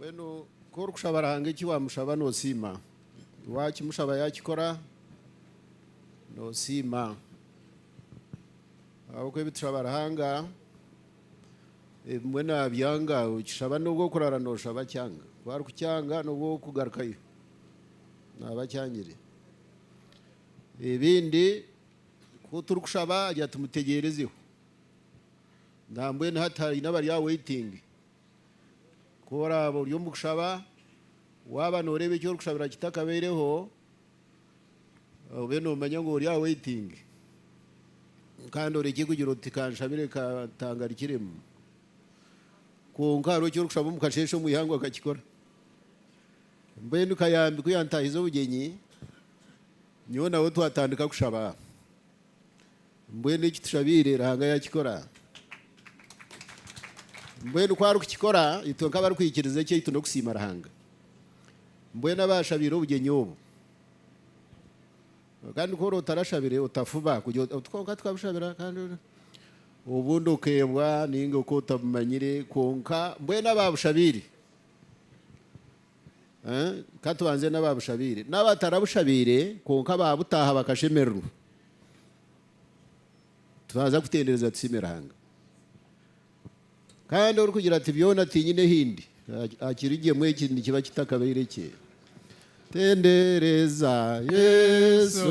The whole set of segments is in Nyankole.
Mbwenu ku orikushaba Ruhanga eki waamushaba noosiima. Waakimushaba yaakikora noosiima. Ahabw'okuba ebi tushaba Ruhanga ebimwe naabyanga, okishaba n'obu orikuraara nooshaba akyanga. Ku arikukyanga n'obu orikugarukayo naaba akyangire. Ebindi ku turikushaba agira ati mutegyerezegho. Nambwenu hati haine abari aha waiting. Ku oraaba ori omu kushaba, waaba nooreeba eki orikushabira kitakabaireho, obe noomanya ngu ori aha waiting. Kandi orekye kugira oti ka nshabire ka ntangarikiremu. Kwonka hariho eki orikushaba omu kasheeshe omu ihangwe akakikora. Mbwenu kayambi ku yantaahize obugyenyi, nyowe nawe twatandika kushaba. Mbwenu eki tushabiire Ruhanga yakikora. Mbwenu ku arikukikora, itwe nk'abarikwikiriza ekyaitu n'okusiima Ruhanga. Mbwenu abaashabiire obugyenyi obu. Kandi ku oraba otarashabire, otafuba kugira oti, otu kwonka tukabushabira kandi obundi okeebwa nainga ku otabumanyire. Kwonka mbwenu abaabushabiire, Ka tubanze n'abaabushabaire n'abatarabushabaire kwonka baabutaaha bakashemererwa. Twaza kutendereza tusiime Ruhanga. Kandi orikugira ati, Byona tiinyine ahi ndi, akiri gye mbwenu eki nikiba kitakabaire kye. Tendereza Yesu.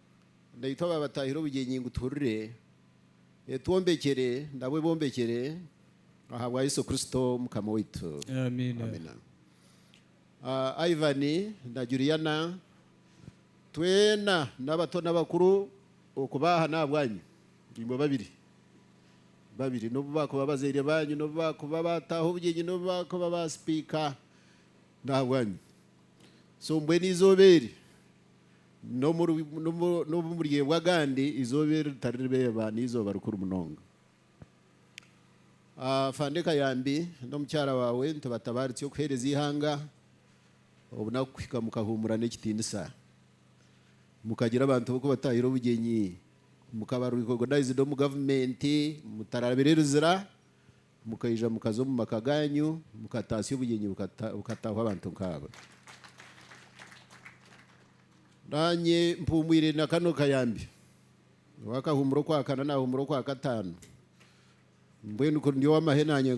na itwe abaabatahire obugyenyi ngu tuhurire, etwombekyere nabo ebombekyere ahabwa Yesu Kristo Mukama waitu. Amiina. Ah, Ivan na Juliana, twena n'abato n'abakuru okuba aha n'ahabwanyu, imwe babiri babiri, n'obu baakuba abazaire baanyu, n'obu baakuba baataaha obugyenyi, n'obu baakuba baasipiika, n'ahabwanyu. So mbwenu eizooba eri. n'obu muryeebwa agandi eizooba eri ritari ribeeba n'eizooba rikuru munonga. Afande Kayambi n'omukyara waawe nitubatabaaritse okuheereza eihanga obunaku kuhika mukahuumura n'ekitiinisa, mukagira abantu b'okubataahira obugyenyi, mukaba recognized omu gavumenti, mutarabire Luzira, Mukaija mukaza omu maka gaanyu, mukataasya obugyenyi bukataahwa abantu nk'abo. Naanye mpumwire na kano kayambi. Ow'akahuumura okwakana naahuumura okwakataano. Mbwenu ku ndi ow'amahe naanye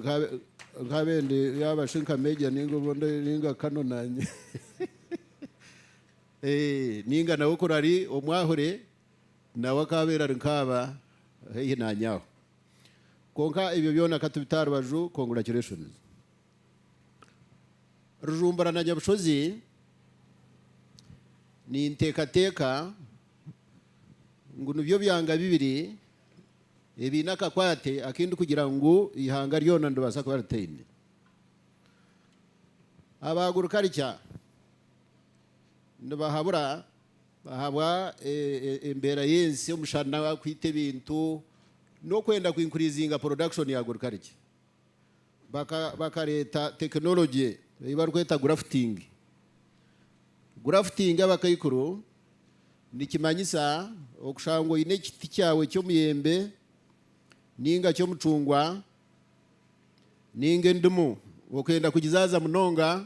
nkaabe ndi yaaba shi nka Major nainga obundi nainga Colonel naanye. Eeh, nainga nawe kuri ari omwahure, nawe akaabaire ari nkaaba haihi naanye aho. Kwonka ebyo byona ka tubite aha rubaju, congratulations Rujumbura na Nyabushozi. Ninteekateeka ngu nibyo byanga bibiri ebiine akakwate aku ndikugira ngu eihanga ryona niribaasa kuba ritaine. Aba Agriculture nibahabura. Ahabwa embeera y'ensi, omushana kwita ebintu n'okwenda kwinkuriizinga porodakishoni ya agurikarikya, bakareeta tekinologye ei barikweta gurafutingi. Gurafutingi abakaikuru nikimanyisa okushanga ngu oine ekiti kyawe ky'omuyembe nainga ky'omucungwa nainga endimu, okwenda kugizaaza munonga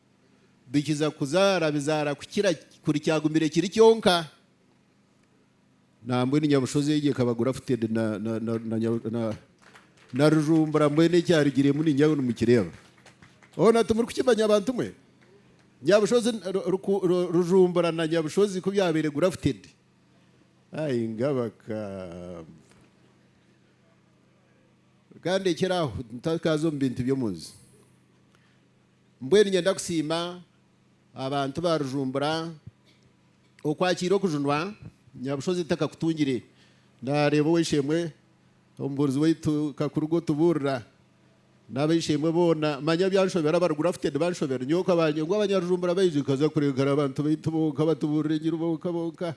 bikiza kuzaara bizaara kukira kuri kyagumire kiri kyonka. Nambwenu nyabushozi egyo ekaba grafted na na na na rujumbura mbwenu ekyarugiremu ningira ngu nimukireeba hoona timuri kukimanya bantu mwe? Nyabushozi rujumbura na nyabushozi ku byabaire grafted ai ngabakamba ka ndekere aho ntakaaza omu bintu by'omunju. Mbwenu nyenda kusiima abantu ba Rujumbura okwakiira okujunwa Nyabushozi takakutungire. Nareeba ow'eishe-emwe omubuurizi waitu Kakuruga otubuurira n'ab'eishe-emwe boona manya byanshobera abari grafted banshobera. Nyowe okabanye ngu Abanyarujumbura baija nkaza kureeba ari abantu baitu bonka abatubuurira enjiri bonka bonka.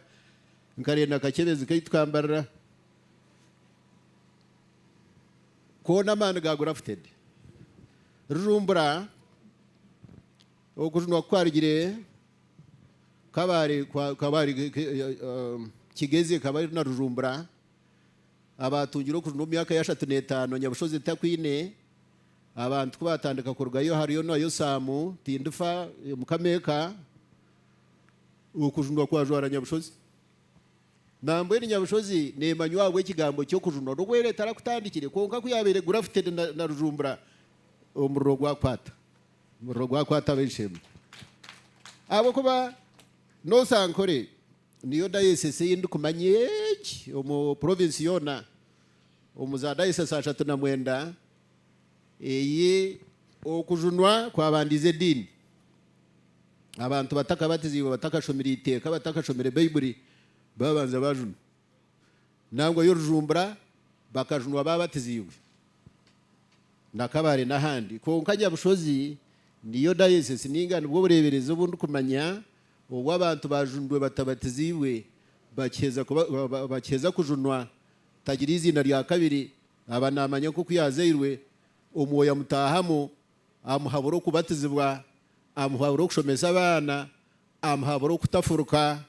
Nkarenda akakyebezi kaitu kambarira. Koona amaani ga grafted. Rujumbura, Okujunwa ku kwarugire Kabale, Kabale, Kigezi, Kabale na Rujumbura abaatungire okujunwa omu myaka y'ashatu n'etaano Nyabushozi etakwine abantu ku baatandika kurugayo hariyo na Yosaamu, Tindifa, Mukama Eka, Okujunwa kwajwara Nyabushozi. Nambwenu nyabushozi neemanywa ahabw'ekigambo ky'okujunwa n'obu era etarakutandikire kwonka ku yaabaire grafted na na rujumbura omuriro gwakwata omuriro gwakwata ab'ensheeme ahabw'okuba noosa Ankole niyo diocese ei ndikumanya egi omu province yoona omu za diocese ashatu na mwenda ei okujunwa kwabandiize ediini Abantu batakabatiziibwe, batakashomire eiteeka, batakashomire Baibuli, baabanza baajunwa. Nangwa y'orujumbura bakajunwa baabatiziibwe na Kabale n'ahandi. Kwonka Nyabushozi niyo dayosesi nainga nibwo bureeberezi obu ndikumanya obu abantu baajunirwe batabatiziibwe bakiheza kujunwa tagira eiziina rya kabiri aba naamanya nk'oku yaazairwe, Omwoyo amutaahamu, amuhabura okubatizibwa, amuhabura okushomesa abaana, amuhabura okutafuruka,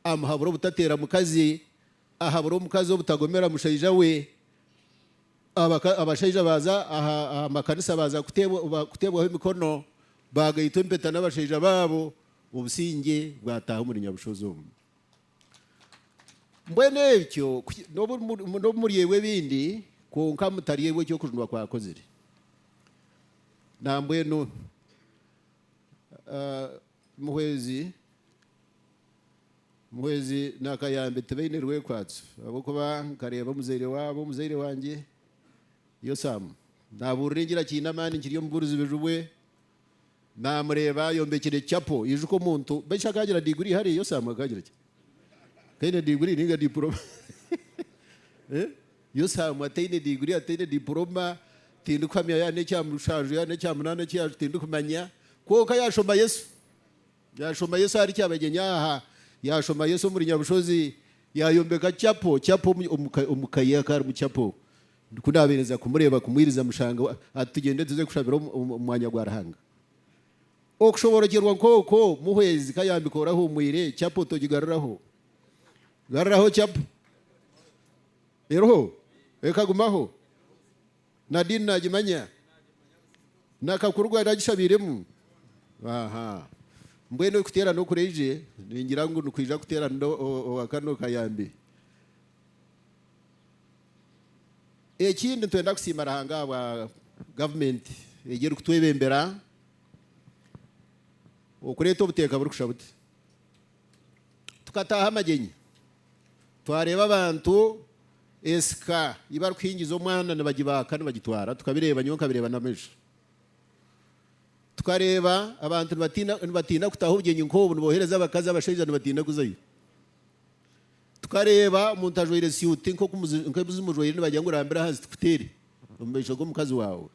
amuhabura obutateera mukazi, ahabure omukazi obutagomera mushaija we, abashaija baaza aha makanisa baaza kuteebwaho emikono, baagaitwa empeta n'abashaija baabo, obusingye bwataaha omuri Nyabushozi omu. Mbwenu ekyo n'obu muryerwa ebindi, kwonka mutaryerwa eki okujunwa kwakozire. Nambwenu muhwezi muhwezi nakayambe tibaine rwekwatso ahabw'okuba nkareeba omuzaire waabo, omuzaire wangye Yosamu nabuurira engira kiine amaani kiri omu burizibiju bwe. Naamureeba ayombekire chapel. Ijuka omuntu beishi akaagira degree hare yo Sam akaagira ki? Taine degree ninga diploma eh? Yo Sam ataine degree ataine diploma tindikuhamya yaaba n'ekya mushanju yaaba n'ekya munaana eki yaaj tindikumanya kwonka yaashoma Yesu. Yaashoma Yesu ahari Kyabagyenyi aha, yaashoma Yesu omuri Nyabushozi, yaayombeka chapel chapel omu omu ka omu ka ye akaarimu chapel. Ku naabeereza kumureeba kumwiriza mushange ati, Tugyende tuze kushabira omu mwanya gwa Ruhanga. Okushoborokyerwa nk'okwo muhwezi ka yaambika ori ahuumwire, chapu otogigaruraho. Garuraho chapu. Eriho? Ekagumaho? Na diini naagimanya? Na kakuru gwe aragishabiiremu? Aha. Mbwenu kuteerana okuraije, ningira ngu nikwija kuteerana owa kano kayambi. Ekindi nitwenda kusiima Ruhanga ahabwa gavumenti egi erikutwebembera okureeta obuteeka burikusha buti. Tukataaha amagyenyi twareeba abantu ensika ei barikuhingiza omwana nibagibaaka nibagitwara tukabireeba nyowe nkabireeba n'amiisho. Tukareeba abantu nibatiina kutaho obugyenyi nk'obu niboohereza abakazi abashaija nibatiina kuzayo. Tukareeba omuntu ajwaire suuti nk'oku zimujwaire nibagira ngu rambira ahansi tukuteere omu maisho g'omukazi waawe.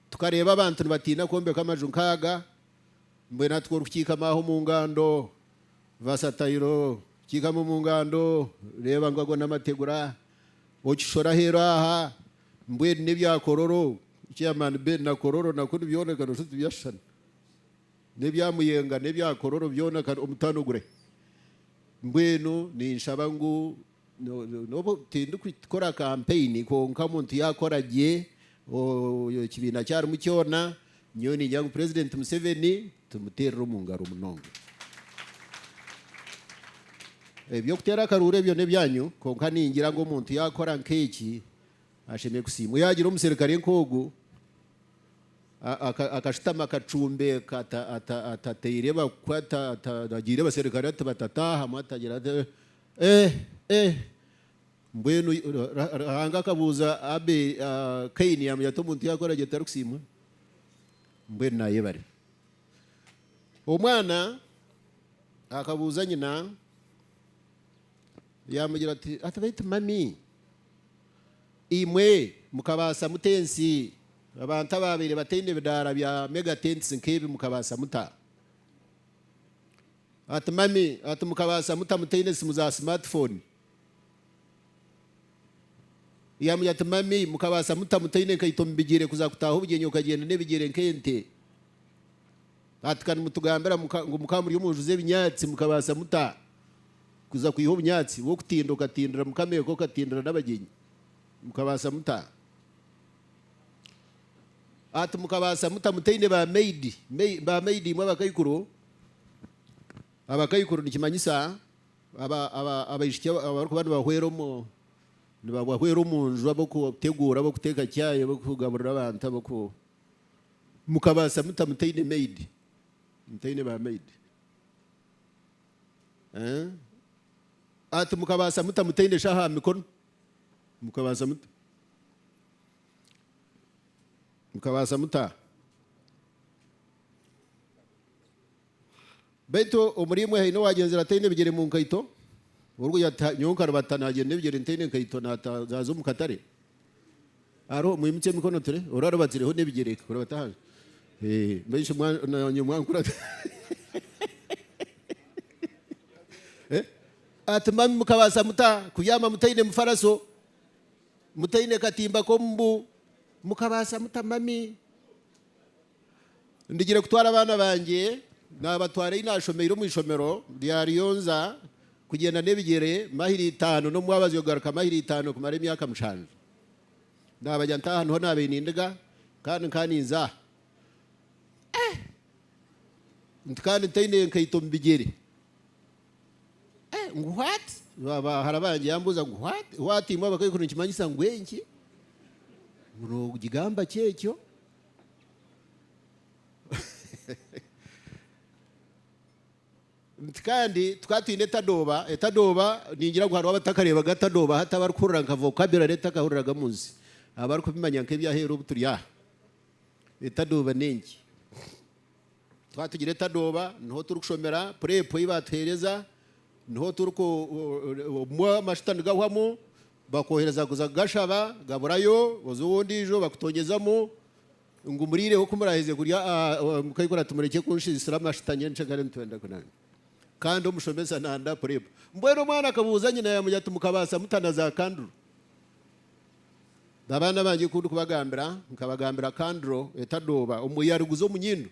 Tukareeba abantu nibatiina kwombeka amaju nk'aga, mbwenu hati ku orikukiikama aho omu ngando, vasatayiro, kiikama omu ngando, reeba ngu ago n'amategura, okishore aheeru aha, mbwenu n'ebya kororo, chairman Ben, na kororo nakwo nibyoneka noshusha oti tibyashushana. N'ebya Muyenga n'ebya Kororo byona kare omutaano gure. Mbwenu ninshaba ngu n'obu tindikukora kampeyini kwonka omuntu yaakora gye ekibiina ki arimu kyona, nyowe ningira ngu Purezidenti Museveni tumuteerire omu ngaro munonga. Eby'okuteera akaruuru ebyo n'ebyanyu kwonka ningira ngu omuntu yaakora nk'eki Ashemereire kusiimwa. Yaagira omuserukare nk'ogwo, akashutama akacumbeka atateire bakwe, ataragiire abaserukare ati batataahamu, atagira ati, Eh, eh! Mbwenu Ruhanga akabuuza Abeeli, Kaini yaamanya ati omuntu yaakora gye tarikusiimwa? Mbwenu naayebare. Omwana akabuuza nyina, yaamugira ati, Ati beitu mami, Imwe mukabaasa muta ensi abantu abaabaire bataine bidaara bya mega tents nk'ebi? Mukabaasa muta? Ati, Mami, ati, mukabaasa muta mutaine simu za simaatifooni? Yaamugira ati, Mami, mukabaasa muta mutaine nkaito mu bigyere kuza kutaaha obugyenyi okagyenda n'ebigyere nk'ente? Ati, Ka nimutugambira ngu mukaba muri omu nju z'ebinyaatsi, mukabaasa muta kuza kwiha obunyaatsi bw'okutinda okatindira mukama eka okatindira n'abagyenyi? Mukabaasa muta? Ati, Mukabaasa muta mutaine ba maidi, ba maidi imwe abakaikuru? Abakaikuru nikimanyisa abaishiki abarikuba nibabahwera omu nju ab'okuteguura, ab'okuteeka chai, ab'okugaburira abantu. Mukabaasa muta mutaine maid? Mutaine ba maid? Ati, Mukabaasa muta mutaine shaho aha mikono? Mukabaasa muta? Mukabaasa muta? Baitu omuri imwe haine owaagyenzire ataine bigyere mu nkaito, orugo yata, nyowe nkaribata naagyenda ebigyere ntaine nkaito naata naaza omu katare? Hariho? Mwimukye emikono ture ori aribatireho n'ebigyere reka kurabata ahanje. Ee, mbwenu shi mwa, naanye mwankura ata? Eh? Ati, Mami, mukabaasa muta kubyama mutaine mufaraso, mutaine katimba k'omu mbu? Mukabaasa muta, Mami? Ndigire kutwara abaana bangye, naabatwara ei naashomeire omu ishomero rya Rionza, kugyenda n'ebigyere mayiro itaano n'omwabazi okugaruka mayiro itaano kumara emyaka mushanju. Naabagya nta aha niho naabaire nindiga kandi nkaba ninza aha. Eh! Nti kandi ntaine nkaito omu bigyere. Eh! Ngu what? Ba bahara bangye yaambuuza ngu what? What imwe abakaikuru nikimanyisa ngu enki? Ngu noogigamba ki ekyo? Nti kandi tukaba twine etadooba, etadooba ningira ngu hariho abatakareebaga tadooba hati abarikuhurira nka vocabulary etakahuriraga omu nsi abarikubimanya nk'ebyaheeru obu turi aha. Etadooba n'enki? Twaba twine etadooba niho turikushomera purepu ei baatuheereza, niho turiku obumwe amashuta nigahwamu, Bakwohereza kuza kugashaba gaburayo, oza ow'ondiijo bakutonyezamu ngu muriireho ku muraaheza kurya mukaikura ati murekye kunshiisira amashitani kandi omushomesa nanda kureba. Mbwenu omwana akabuuza nyina yaamwe ati mukabaasa muta na za kanduro? Babaana bangye ku ndikubagambira nkabagambira kanduro etadooba omwe yaariguza omu nyindo.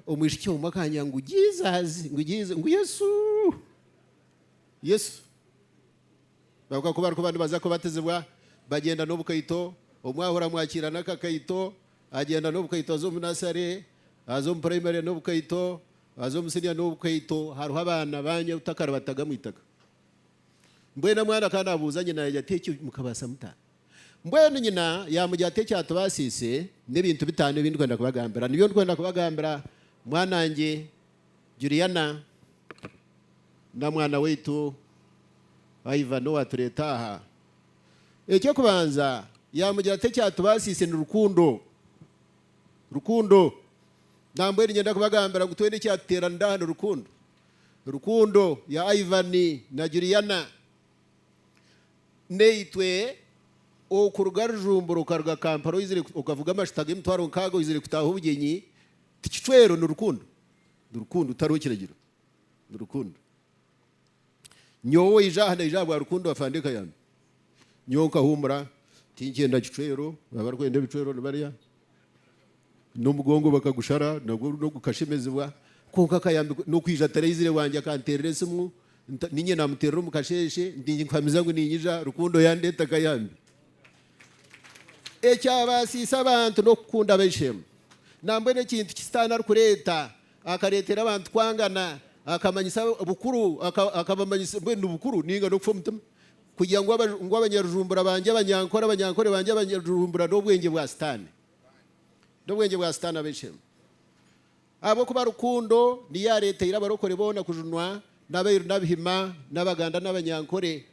Omwishiki omwe akangira ngu Jesus! Ngu Yesu! Yesu. Kwonka ku barikuba nibaza kubatizibwa, bagyenda n'obukaito. Omwe ahurira mwakiira n'akakaito, agyenda n'obukaito. Aza omu nasare, aza omu purayimare n'obukaito, aza omu siniya n'obukaito. Hariho abaana baanya obutakaribatagamu eitaka. Mbwenu omwana ka naabuuza nyina, yaagira ati, Ekyo mukabaasa muta? Mbwenu nyina yaamugira ati, Ekyatubaasiise n'ebintu bitaano ebi ndikwenda kubagambira. Nibyo ndikwenda kubagambira, mwanangye Juliana na mwana waitu Ivan owaatureeta aha. Eky'okubanza, yaamugira ati, Ekyatubaasiise ni rukundo. Rukundo. Nambwenu niinyenda kubagambira ngu twena ekyatuteeranire aha ni rukundo. Rukundo ya Ivan na Juliana Naitwe okuruga Rujumbura okaruga Kampala oizire okavuga amashuta g'emitwaro nkaaga oizire kutaaha obugyenyi ti kicwero ni rukundo. Ni rukundo tihariho kiragiro ni rukundo. Nyowe owaija aha naija ahabwa rukundo afande Kayambi. Nyowe nkahuumura tinkyenda kicwero abarikwenda ebicwero nibarya. N'omugongo bakagushara nagwo rundi ogukashemezibwa kwonka akayambikwa n'okwija ataraizire bwangye akanteerera esimu niinye naamuteerera omu kasheeshe nti nkuhamiza ngu niinyija Rukundo yaandeeta akayambi. Ekyabaasiise abantu n'okukunda abaishe-emwe. Nambwenu ekintu ki Sitaane arikureeta, akareetera abantu kwangana, akamanyisa bukuru, akabamanyisa mbwenu nibukuru nainga n'okufa omutima. kugira ngu aba, ngu abanyarujumbura bangye, abanyankore, abanyankore bangye, abanyarujumbura n'obwengye bwa Sitaane, n'obwengye bwa Sitaane ab'enshembo. Ahabw'okuba rukundo niyo yaareteire abarokore boona kujunwa, n'abairu n'abihima, n'abaganda n'abanyankore,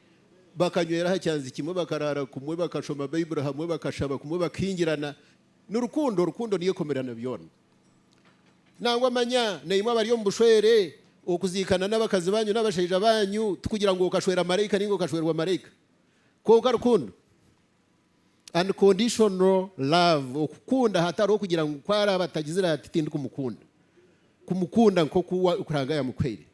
bakanywera aha kyanzi kimwe, bakaraara kumwe, bakashoma Baiburi hamwe, bakashaba kumwe, bakahingirana. Ni rukundo, rukundo niyo ekomerana byona. Nangwa manya na imwe abari omu bushwere, okuziikana n'abakazi banyu n'abashaija banyu tikugira ngu okashwera maraika nainga okashwerwa maraika. Kwonka rukundo, unconditional love, okukunda hatariho kugira ngu ku araaba atagizire ati tindikumukunda, kumukunda nk'oku Ruhanga yamukuhaire.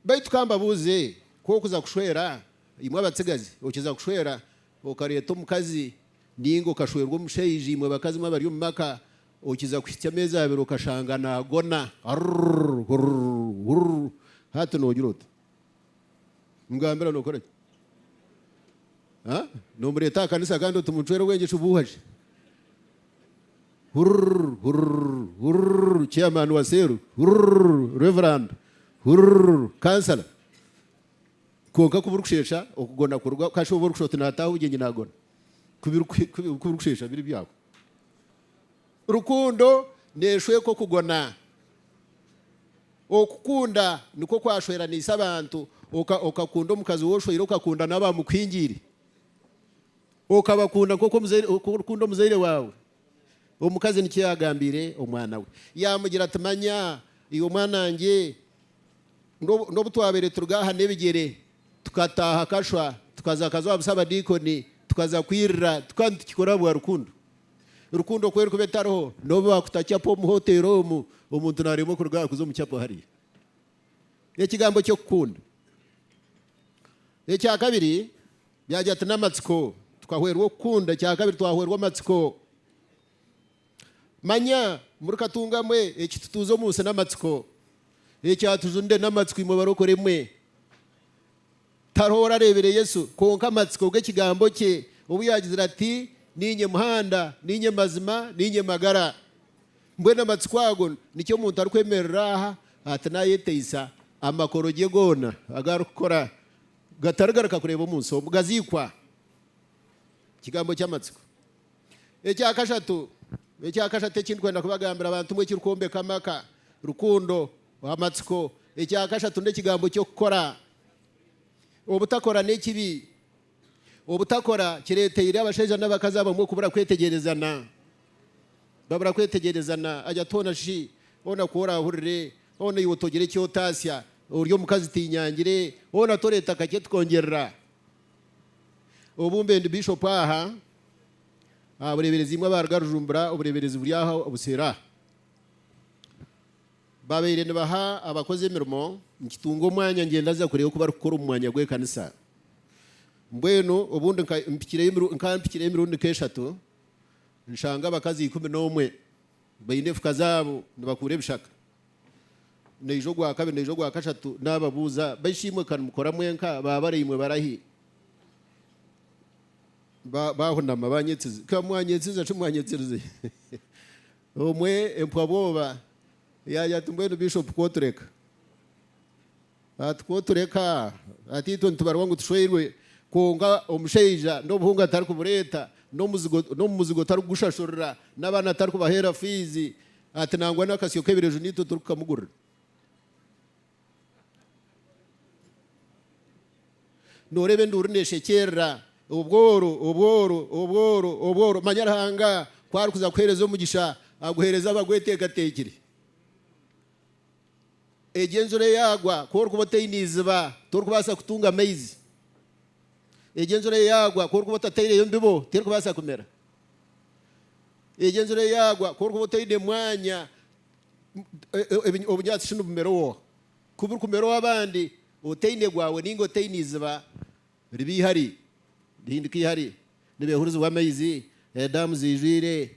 Baitu ka mbabuuze, ku okuza kushwera, imwe abatsigazi, okiza kushwera, Okareeta omukazi nainga okashwerwa omushaija, imwe bakazi mwe abari omu maka, okiza kuhitsya ameezi abiri okashanga naagona. Arrrrr! Hurrrrr! Hurrrrr! Hati noogira ota? Mugambira nookora ki? Haa? Noomureeta aha kanisa kandi oti muncwere bwengye shubuuha shi? Hurrrrr! Hurrrrr! Hurrrrr! Chairman wa seero! Hurrrrr! Reverand! Hurrrrr! Councillor! Kwonka ku birikusheesha okugona kuruga, ka shooba orikushusha oti naataaha obugyenyi naagona. Ku birikusheesha biri byaawe. Rukundo neeshweka okugona. Okukunda nikwo kwashweraniise abantu. Okakunda omukazi ou oshweire, okakunda n'abaamukuhingiire. Okabakunda nk'oku orikukunda omuzaire waawe. Omukazi nikyo yaagambiire omwana we. Yaamugira ati, Manya, iwe mwanangye, n'obu twabaire turi gaaha n'ebigyere, tukataaha kashwa, tukaza kaza owa busaabadiikoni, tukaza kwirira, tukaba nitukikora ahabwa rukundo. Rukundo ku erikuba etariho, n'obu baakuta capo omu hoteeri omu, omuntu naaremwa kuruga aha kuza omu capo hariya. Ekigambo ky'okukunda. Ekya kabiri, Byagira ati, N'amatsiko tukahwerwa okukunda. Ekyakabiri, twahwerwa amatsiko. Manya, muri Katunga mwe, eki tutuuze omu nsi n'amatsiko. Eki atujunire n'amatsiko imwe barokore mwe. Tariho orareebire Yesu kwonka amatsiko g'ekigambo kye obu yaagizire ati, Niinye muhanda, niinye mazima, niinye magara. Mbwenu amatsiko ago nikyo omuntu arikwemerera aha ati naayeteisa amakoro gye goona agu arikukora. Gatarigaruka kureeba omu nsi omu gaziikwa. Ekigambo ky'amatsiko. Ekya kashatu, ekya kashatu eki ndikwenda kubagambira abantu mu ekirikwombeka amaka, rukundo, amatsiko. Ekya kashatu n'ekigambo ky'okukora. Obutakora n'ekibi. Obutakora kireeteire abashaija n'abakazi abamwe kubura kwetegyerezana. Babura kwetegyereza na Ayatollah shi hoona ku oraahurire, hoona iwe togire eki otaasya, ori omukazi tiinyangire, hoona toreeta kakye tikongyerera. Obumbe ndi Bishop aha aha bureeberezi imwe abaaruga Rujumbura obureeberezi buri aha obuseero aha. Baabaire nibaha abakozi emirimo, nikitunga omwanya ngyendaza kureeba oku barikukora omu mwanya gw'ekanisa. Mbwenu obundi nka mpikireyo emirundi nka mpikire emirundi nk'eshatu. nshanga abakazi ikumi n'omwe baine efuka zaabo nibakuura ebishaka. Naija ogwa kabiri naija ogwa kashatu naababuuza, Baishe-imwe ka nimukora mwenka? Ba baraimwe barahi? Baahunama baanyetsiza. Ka mwanyetsiza shi mwanyetsize? Omwe empwa-bwoba yaagira ati, Mbwenu Bishopu ku otureka? Ati, Ku otureka ati itwe nitubarwa ngu tushweirwe, kwonka omushaija n'obuhunga tarikubureeta, n'omu muzigo tarikugushashurira, n'abaana tarikubaheera fiizi, ati nangwa n'akasyo k'ebireju niitwe turikukamugurira. Nooreeba enduuru neeshekyerera, obworo, obworo, obworo, obworo, manya Ruhanga ku arikuza kukuheereza omugisha, aguheereze abagweteekateekire. Egyo enjura yaagwa, ku orikuba otaine iziba, torikubaasa kutunga maizi. Egyo enjura yaagwa, ku orikuba otataireyo mbibo, terikubaasa kumera. Egyo enjura yaagwa, ku orikuba otaine mwanya, obunyaatsi tinibumera owaawe. Ku burikumera ow'abandi, otaine gwaawe nainga otaine iziba, riba ihari, rihinduka ihari, nibeehurizibwa amaizi, edaamu ziijwire,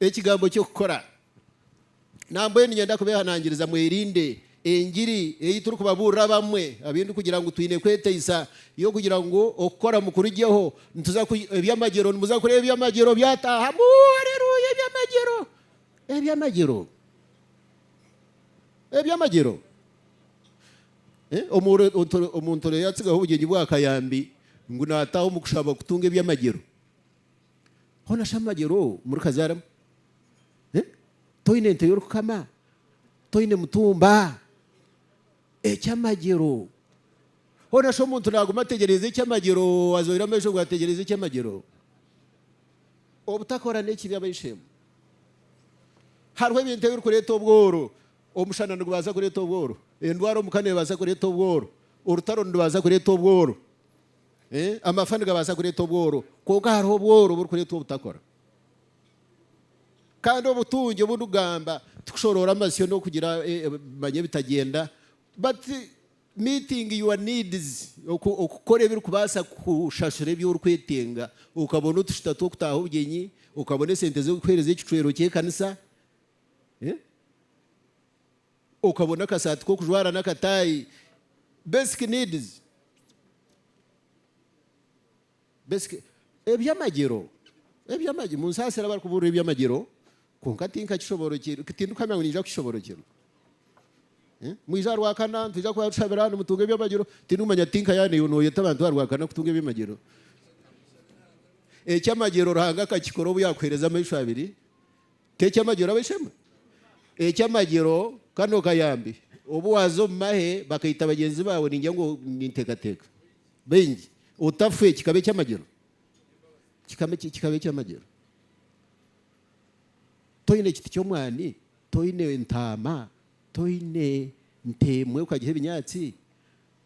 Ekigambo ky'okukora. Nambwenu niinyenda kubeehanangiriza mwerinde engiri ei turikubabuurira abamwe abu ndikugira ngu twine kweteisa y'okugira ngu okukora mukurugyeho. Nituza ku, eby'amagyero, nimuza kureeba eby'amagyero byataahamu. Aleluya! Eby'amagyero! Eby'amagyero! Eby'amagyero! Omu, omuntu orayatsigaho obugyenyi bw'akayambi ngu naataaha omu kushaba kutunga eby'amagyero. hoona shi amagyera ou murikazaaramu? Toine ente y'orikukama? Toine mutumba? Eky'amagyero! Hoona shi omuntu naaguma ategyereize eky'amagyero, azoire amaisho ngu ategyereize eky'amagyero? Obutakora n'ekibi abaishe-emwe. Hariho ebintu ebirikureeta obworo. Omushana nigubaasa kureeta obworo. Endwara omu ka neebaasa kureeta obworo. Orutaro nirubaasa kureeta obworo. Amafa nigabaasa kureeta obworo, kwonka hariho obworo oburikureetwa obutakora. Kandi obutungi obu ndigamba tikushoroora amasyo n'okugira ebimanya ebitagyenda but meeting your needs, okukora ebirikubaasa kushashura ebi orikwetenga, okabona otushita tw'okutaaha obugyenyi, okabona esente z'okuheereza ekicwero ky'ekanisa. Okabona akasaati k'okujwara n'akataayi, basic needs, basic eby'amagyero, eby'amagyero, munsaasire abarikubuurira eby'amagyero kwonka tinkakishoboorokyerwe, tindikamya ngu niija kukishoboorokyerwa. Mwije aha Rwakana nitwija kuba tushabira nimutunga eby'amagyero, tindikumanya tinka yaaba naiwe nooyeta abantu aha Rwakana kutunga eby'amagyero. Eky'amagyero Ruhanga akakikora obu yaakuheereza amaisho abiri. T'eky'amagyero ab'eishe-emwe? Eky'amagyero kano kayambi. Obu waaza omu mahe bakaita bagyenzi baawe ningira ngu ninteekateeka baingi otafwe kikaba eky'amagyero? Kikaba kikaba eky'amagyero. Toine kiti ky'omwani, toine entaama, toine nte emwe okagiha ebinyaatsi?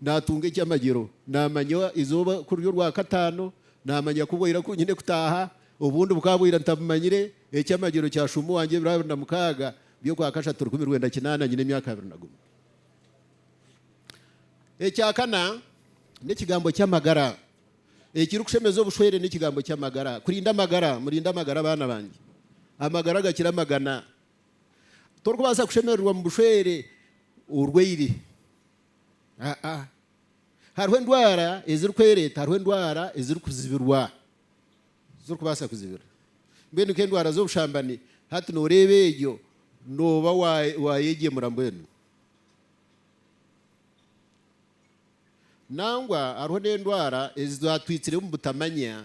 naatunga eky'amagyero. Naamanya eizooba ku riri orwakataano, naamanya ku bwira ku nyine kutaaha, obundi bukaba bwira ntabumanyire. Eky'amagyero kya shumba wangye ebiro abiri na mukaaga by'okwa kashatu rukumi rwenda kinaana nyine emyaka abiri na gumwe. Ekya kana n'ekigambo ky'amagara. Ekirikushemeza obushwere n'ekigambo ky'amagara. Kurinda amagara, murinde amagara baana bangye. Amagara gakira amagana. Torikubaasa kushemererwa mu bushwere orwaire. Aa. Hariho endwara ezirikwereeta, hariho endwara ezirikuzibirwa, ezirikubaasa kuzibira. Mbwenu nk'endwara z'obushambani, hati nooreeba egyo nooba waayeegyemura mbwenu. Nangwa hariho n'endwara ezi twatwitsire omu butamanya.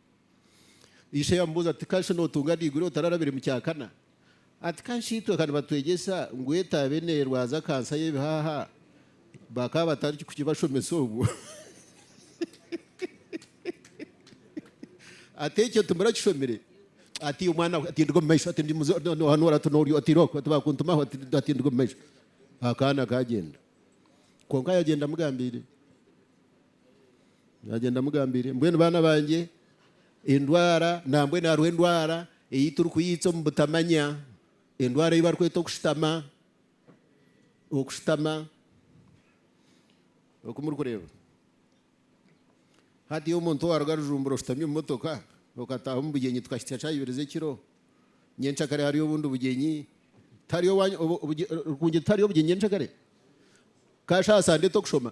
Ishe yamubuuza ati, Ka shi nootunga niigura otararabire mu kya kana? Ati, Ka shi itwe ka nibatwegyesa ngu etaabe neerwaza kansa y'ebihaha bakaba batarikukibashomesa obwo? Ati, Ekyo timurakishomire? Ati, Omwana we atindiga omu maisho, ati, Noohanura oti noori oti irooku, ati, Baakuntumaho, ati, Atindiga omu maisho. Akaana kaagyenda. Kwonka yagyenda amugambiire. Nagyenda amugambiire, Mbwenu baana bangye, endwara nambwenu hariho endwara ei turikuyiitsa omu butamanya, endwara ei barikweta okushutama, okushutama, oku murikureeba. Hatiiya omuntu owaruga Rujumbura oshutami omu motoka okataaha omu bugyenyi tukahitsya kyayibirizi ekiro, nyencakare hariyo obundi bugyenyi, tihariyo, Rurungi, tihariyo bugyenyi nyencakare? Ka shaaha saa nda etokushoma,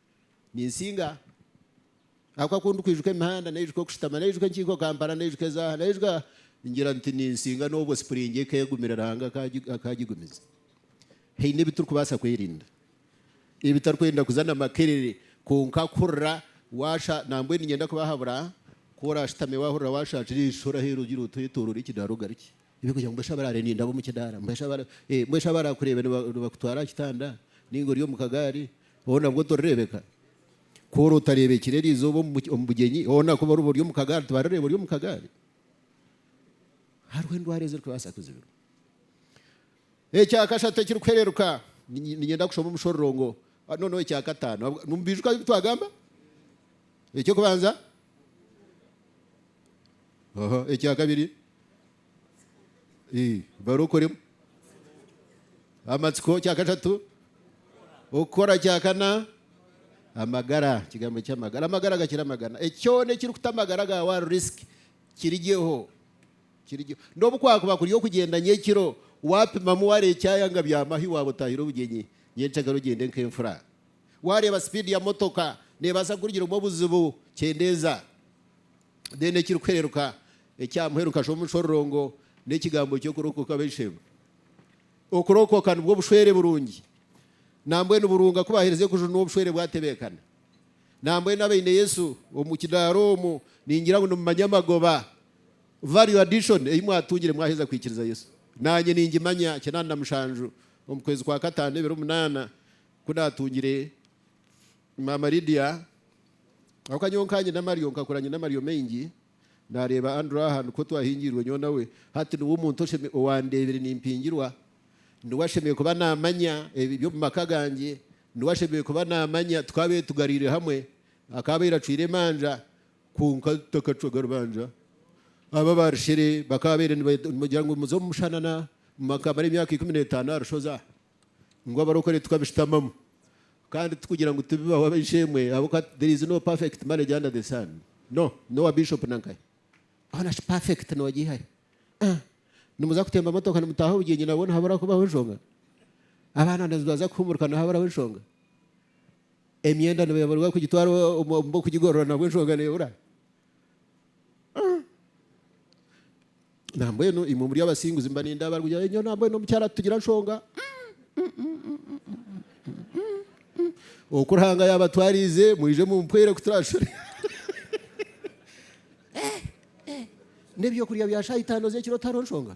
Ninsinga ahakuba ku ndikwijuka emihanda, naijuka okushutama, naijuka enkiiko Kampala, naijuka ezaaha, naijuka ngira nti ninsinga n'obwo sipuringi ekegumire Ruhanga akagigumiza. Haine ebi turikubaasa kwerinda ebitarikwenda kuza na makerere kwonka kuhurira waasha. Nambwenu niinyenda kubahabura ku oraashutame waahurira waashaakira eisho, oraheera ogira oti oyetooroore ekidaara ogarukye. Ebyokurya ngu mbwenu shi abaraarendinda ab'omu kidaara? Mbwenu shi abaraakureebe nibakutwara aha kitanda nainga ori omu kagaari? Hoo nabwo torireebeka? Ku ori otareebekire eryo izooba omu bugyenyi, hoona ku oriba ori omu kagaari tibarireeba ori omu kagaari? Hariho endwara ezirikubaasa kuzibirwa. Ekya kashatu ekirikuhereruka, niinyenda kushoma omushororongo, noneho ekya kataano. Ahabw, nimubiijuka ebi twagamba? Eky'okubanza? Aha, ekya kabiri? Ii, barokoremu. Amatsiko, kya kashatu? Okukora, kya kana? Amagara, ekigambo ky'amagara. Amagara gakira amagana. Ekyona ekirikuta amagara gaawe ahari risk, kirigyeho. Kirigye. N'obu kwakuba kuri okugyenda nyekiro, wapimamu wareeba ekyayanga byama ahu waaba otahire obugyenyi nyenkyakare ogyende nk'enfura. Wareeba sipiidi ya motoka nebaasa kukurigyiramu obuzibu, kyendeeza. Then ekirikuhereruka ekyamuheru kasha omushororongo n'ekigambo ky'okurokoka b'eishe-emwe. Okurokoka nibwo bushwere burungi. Nambwenu burunga ku bahereza ekujunwa obushwere bwatebekana. Nambwenu abaine Yesu omu kidaara omu, ningira ngu nimumanya amagoba Value addition ei mwatungire mwaheza kwikiriza Yesu. Naanye ningimanya kinani na mushanju omu kwezi kwa kataano ebiro munaana ku naatungire Maama Lydia. Ahakuba nyowe nka nyina amaryo nkakura nyine amaryo maingi, naareeba Andrew aha nikwo twahingiirwe nyowe nawe. Hati niwe omuntu owandeebire nimpingirwa. Niwe ashemereire kuba naamanya eby'omu maka gangye. Niwe ashemereire kuba naamanya tukaabaire tugariire hamwe. Akaabaire acwire emanja Kwonka tutakacwaga rubanja, abo abaarushere bakaabaire nibagira ngu muze omu mushanana, mwakamara emyaka ikumi n'etaano aha rushozi aha, ngu abarokore tukabishutamamu. Kandi tikugira ngu tibibaho ab'eishe-emwe abo ka, there is no perfect marriage under the sun, no, n'owa Bishop nankahe, hoona shi perfect noogi ihahi? Aah, nimuza kutemba motoka nimutaaha obugyenyi nabwo nihabura kubaho enshonga? Abaana nibaza kuhuumurika nihaburaho enshonga? Emyenda nibeeburirwa kugitwara omu b'okugigorora nabwo enshonga neebura? Nambwenu imwe omuri abasinguzi mba nindaba barikugira ngu, nyowe nambwenu omukyara titugira nshonga. Oku Ruhanga yaabatwariize mwije mumpwere kuturashura. N'eby'okurya bya shaaha itaano z'ekiro tihariho nshonga?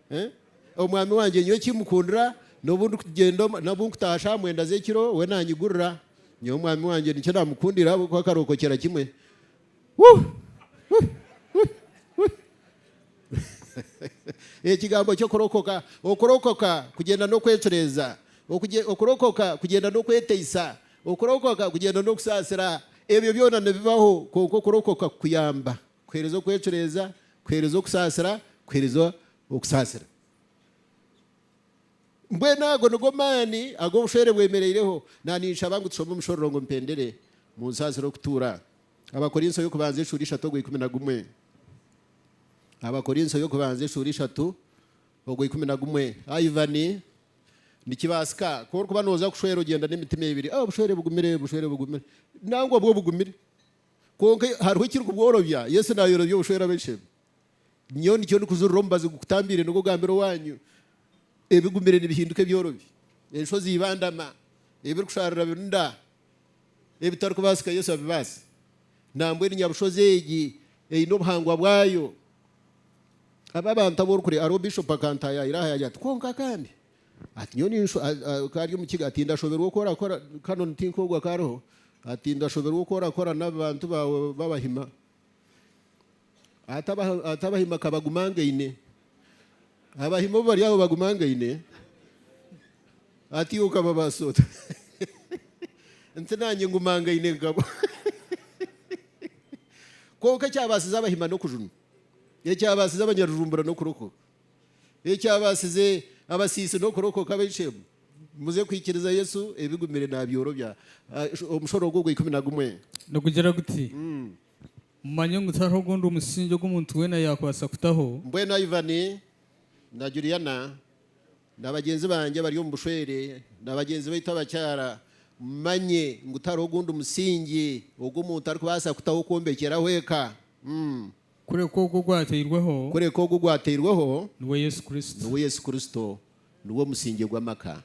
Omwami wangye nyowe eki mukundira, n'obu ndikugyenda omu, n'obu nkutaaha shaaha mwenda z'ekiro, we naanyigurira. Nyowe omwami wangye nikyo naamukundira ahabw'okuba akarookokyera kimwe. Ekigambo ky'okurokoka, okurokoka kugyenda n'okwecureeza, okurokoka kugyenda n'okweteisa, okurokoka kugyenda n'okusaasira. Ebyo byona nibibaho, kwonka okurokoka kukuyamba Kuheereza okwecureeza, kuheereza okusaasira, kuheereza okusaasira. Mbwenu ago nigo maani ag'obushwere bwemereireho. Na ninshaba ngu tushome omushororongo mpendere mu nsaasira okutuura. Abakorinso y'okubanza eshuura ishatu ogwa ikumi na gumwe. Abakorinso y'okubanza eshuura ishatu ogwa ikumi na gumwe. Ivan, Nikibaasika ku orikuba nooza kushwera ogyenda n'emitima ebiri, Oh, bushwere bugumire, bushwere bugumire, nangwa bwo bugumire. Kwonka hariho ekirikubworobya. Yesu naayorobya obushwere abaishe be. Nyowe nikyo ndikujurira omubazi gukutambiire nigwo ogambire owaanyu, Ebigumire nibihinduka ebyorobi, enshozi ibandama, ebirikusharura birunda, ebitarikubaasika Yesu abibaasa. Nambwenu nyabushozi egi eine obuhangwa bwayo. Aba abantu abu orikureeba, hariho Bishop akantaayaayira aha yagira ati, Kwonka kandi, Ati, Nyowe ninshusha, ku ari Omukiga, ati, ndashoberwa oku orakora, Canon ti nk'ogu akaariho, ati, ndashoberwa oku orakora n'abantu baawe b'Abahima. Ati, Ati, Abahima ka bagumangaine. Abahima obu bari aho bagumangaine, ati iwe okababaasa ota? Nti, Naanye ngumangaine nkabo. Kwonka ekyabaasize Abahima n'okujunwa. Ekyabaasize Abanyarujumbura n'okurokoka. Ekyabaasize abasiisi n'okurokoka abaishe muze kwikiriza Yesu ebigumire naabyorobya. Omushoro ogwo ogwa ikumi na gumwe. Nigugira guti, Mumanye ngu tihariho ogundi musingi ogu omuntu weena yaakubaasa kutaho. Mbwenu Ivan na Juliana na bagyenzi bangye abari omu bushwere na bagyenzi baitu abakyara, mumanye ngu tihariho ogundi musingi ogu omuntu arikubaasa kutaho kwombekyeraho eka. Kureka ogwo ogwatairweho. Kureka ogwo ogwatairweho. Niwe Yesu Kristo. Niwe Yesu Kristo. Niwe omusingye gw'amaka.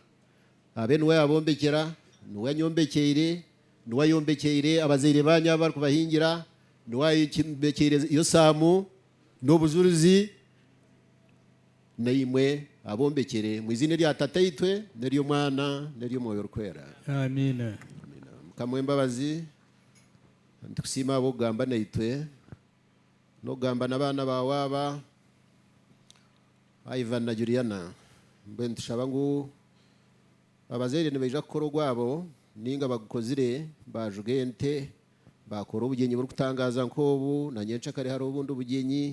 Abe niwe yaabombekyera. Niwe anyombekyeire. Niwe ayombekyeire abazaire baanyu abu barikubahingira. Niwe ayombekyeire Yosaamu n'obujurizi. Naimwe abombekyere omu iziina erya Tataitwe, n'ery'Omwana, n'ery'Omwoyo Orikwera. Amiina. Mukama ow'embabazi. Nitukusiima ahabw'okugamba naitwe, n'okugamba n'abaana baawe aba, Ivan na Juliana. Mbwenu nitushaba ngu abazaire nibaija kukora ogwabo, nainga bagukozire, baajuga ente, baakora obugyenyi burikutangaaza nk'obu, na nyenkyakare hariho obundi bugyenyi,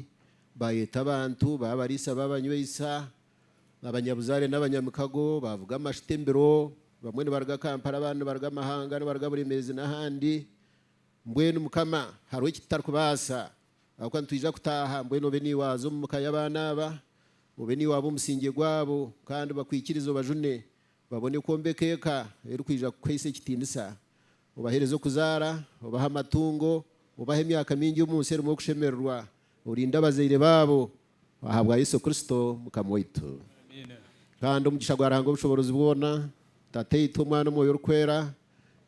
baayeeta abantu, baabariisa, baabanywesa. Abanyabuzaare n'abanyamikago baavuga amashuta embiro, bamwe nibaruga Kampala abandi nibaruga amahanga, nibaruga Buremeezi n'ahandi. Mbwenu Mukama, hariho eki tutarikubaasa, ahabw'okuba nitwija kutaaha. Mbwenu obe naiwe waaza omu ka y'abaana aba, obe naiwe waaba omusingye gwabo, kandi bakwikirize obajune, babone kwombeka eka erikwija kukuhaisa ekitiinisa. Obaheereze okuzaara, obahe amatungo, obahe emyaka mingi omu nsi erimu okushemererwa, Orinde abazaire baabo ahabwa Yesu Kristo Mukama waitu. Kandi omugisha gwa Ruhanga Obushoboorozi bwona, Tataitwe, Omwana, Omwoyo Orikwera,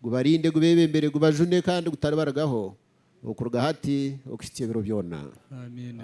gubarinde, gubebembere, gubajune kandi gutaribarigaho okuruga hati okuhikya ebiro byona. Amiina.